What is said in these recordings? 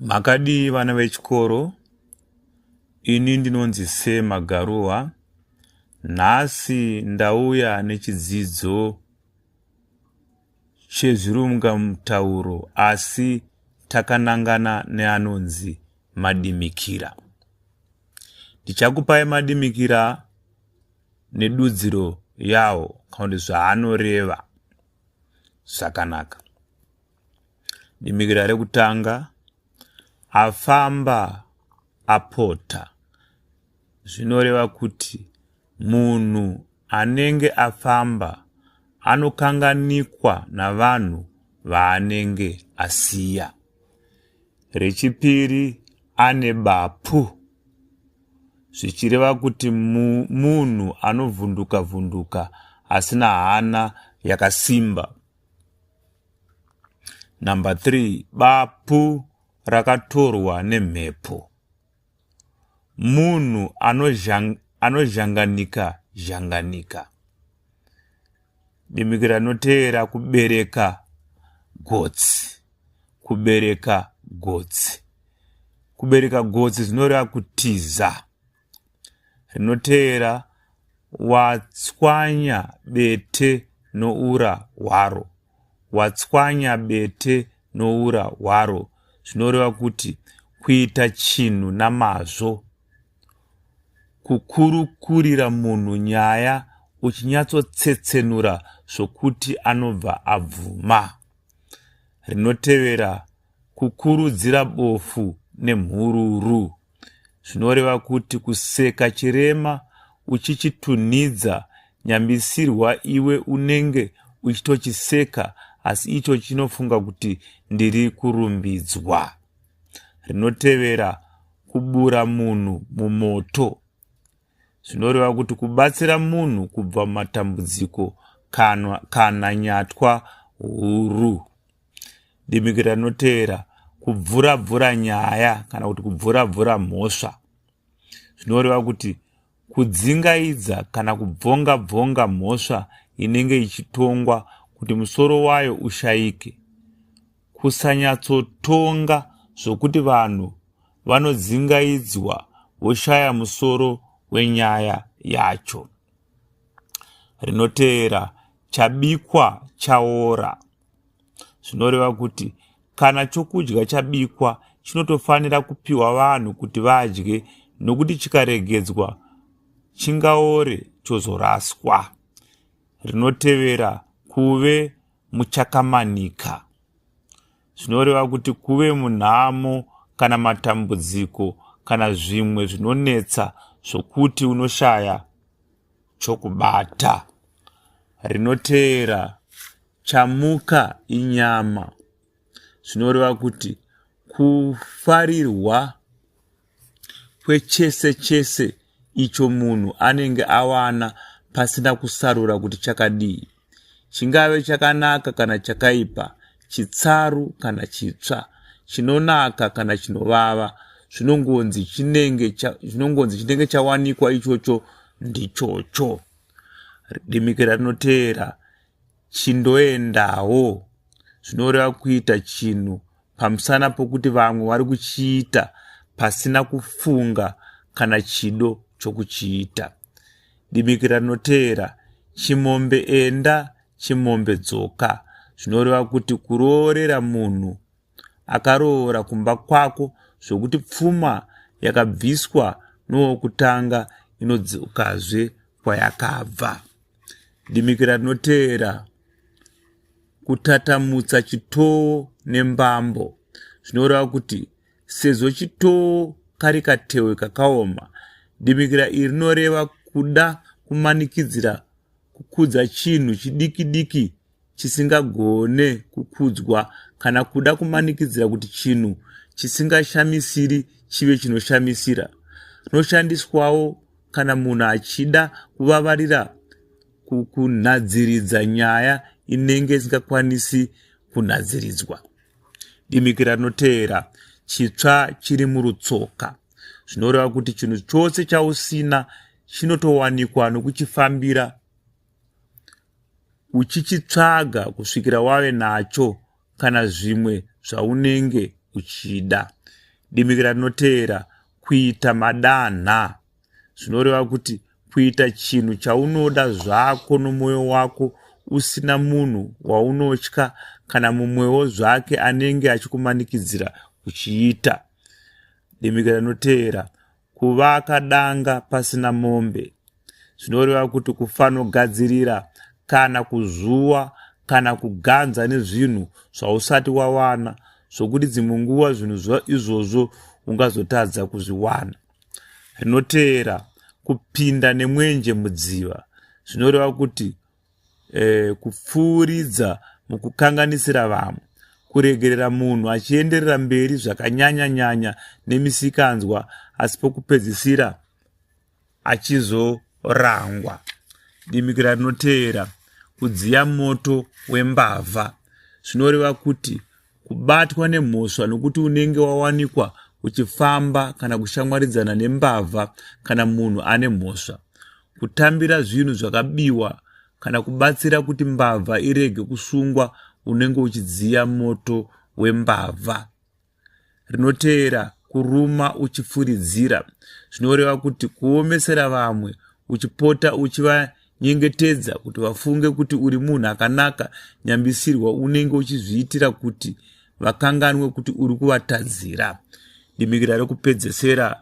Makadii vana vechikoro? Ini ndinonzi Sir Magaruwa. Nhasi ndauya nechidzidzo chezvirungamutauro asi takanangana neanonzi madimikira. Ndichakupai madimikira nedudziro yawo kana kuti zvaanoreva. zvakanaka dimikira rekutanga afamba apota zvinoreva kuti munhu anenge afamba anokanganikwa navanhu vaanenge asiya rechipiri ane bapu zvichireva kuti munhu anovhunduka vhunduka asina hana yakasimba. Number 3 bapu rakatorwa nemhepo. Munhu anozhanganika zhanganika. Demiki ranoteera kubereka gotsi. Kubereka gotsi. Kubereka gotsi zvinoreva kutiza. Rinoteera watswanya bete noura hwaro. Watswanya bete noura hwaro zvinoreva kuti kuita chinhu namazvo. Kukurukurira munhu nyaya uchinyatsotsetsenura zvokuti anobva abvuma. Rinotevera kukurudzira bofu nemhururu. Zvinoreva kuti kuseka chirema uchichitunhidza nyambisirwa iwe unenge uchitochiseka asi icho chinofunga kuti ndiri kurumbidzwa. rinotevera kubura munhu mumoto zvinoreva kuti kubatsira munhu kubva mumatambudziko kana, kana nyatwa huru dimikira rinotevera kubvura bvura nyaya kana kuti kubvura bvura mhosva zvinoreva kuti Kudzingaidza kana kubvonga bvonga mhosva inenge ichitongwa kuti musoro wayo ushayike. Kusanyatsotonga zvokuti vanhu vanodzingaidzwa voshaya musoro wenyaya yacho. Rinoteera chabikwa chaora. zvinoreva kuti kana chokudya chabikwa chinotofanira kupiwa vanhu kuti vadye nokuti chikaregedzwa chingaore chozoraswa rinotevera kuve muchakamanika zvinoreva kuti kuve munhamo kana matambudziko kana zvimwe zvinonetsa zvokuti unoshaya chokubata. Rinoteera chamuka inyama zvinoreva kuti kufarirwa kwechese chese icho munhu anenge awana pasina kusarura kuti chakadii. chingave chakanaka kana chakaipa chitsaru kana chitsva chinonaka kana chinovava zvinongonzi chinenge zvinongonzi chinenge chawanikwa ichocho ndichocho dimikira rinoteera chindoendawo zvinoreva kuita chinhu pamusana pokuti vamwe vari kuchiita pasina kufunga kana chido chokuchiita Dimikira rinoteera, Chimombe enda, chimombe dzoka. Zvinoreva kuti kuroorera munhu akaroora kumba kwako zvokuti pfuma yakabviswa nowokutanga inodzokazve kwayakabva. Dimikira rinoteera, Kutatamutsa chitowo nembambo. Zvinoreva kuti sezvo chitoo kari katewe kakaoma dimikira iri rinoreva kuda kumanikidzira kukudza chinhu chidiki diki chisingagone kukudzwa kana kuda kumanikidzira kuti chinhu chisingashamisiri chive chinoshamisira rinoshandiswawo kana munhu achida kuvavarira kunhadziridza nyaya inenge isingakwanisi kunhadziridzwa dimikira rinoteera chitsva chiri murutsoka zvinoreva kuti chinhu chose chausina chinotowanikwa nokuchifambira uchichitsvaga kusvikira wave nacho kana zvimwe zvaunenge uchida dimikira rinoteera kuita madanha zvinoreva kuti kuita chinhu chaunoda zvako nomwoyo wako usina munhu waunotya kana mumwewo zvake anenge achikumanikidzira kuchiita demika rinoteera kuvaka danga pasina mombe zvinoreva kuti kufanogadzirira kana kuzuwa kana kuganza nezvinhu zvausati wawana zvokuti dzimwe nguva zvinhu izvozvo ungazotadza kuzviwana rinoteera kupinda nemwenje mudziva zvinoreva kuti eh, kupfuuridza mukukanganisira vamwe kuregerera munhu achienderera mberi zvakanyanya nyanya nemisikanzwa asi pokupedzisira achizorangwa dimikira rinoteera kudziya moto wembavha zvinoreva kuti kubatwa nemhosva nokuti unenge wawanikwa uchifamba kana kushamwaridzana nembavha kana munhu ane mhosva kutambira zvinhu zvakabiwa kana kubatsira kuti mbavha irege kusungwa unenge uchidziya moto wembavha rinoteera kuruma uchifuridzira zvinoreva kuti kuomesera vamwe uchipota uchiva nyengetedza kuti vafunge kuti uri munhu akanaka nyambisirwa unenge uchizviitira kuti vakanganwe kuti uri kuvatadzira dimikira rekupedzesera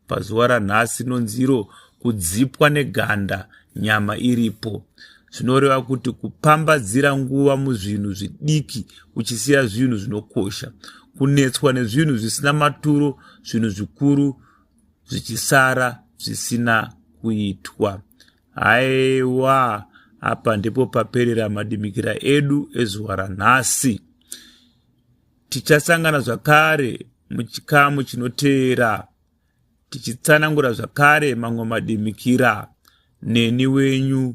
pazuva ranhasi inonziro kudzipwa neganda nyama iripo zvinoreva kuti kupambadzira nguva muzvinhu zvidiki uchisiya zvinhu zvinokosha kunetswa nezvinhu zvisina maturo zvinhu zvikuru zvichisara zvisina kuitwa haiwa apa ndipo paperera madimikira edu ezuva ranhasi tichasangana zvakare muchikamu chinoteera tichitsanangura zvakare mamwe madimikira neni wenyu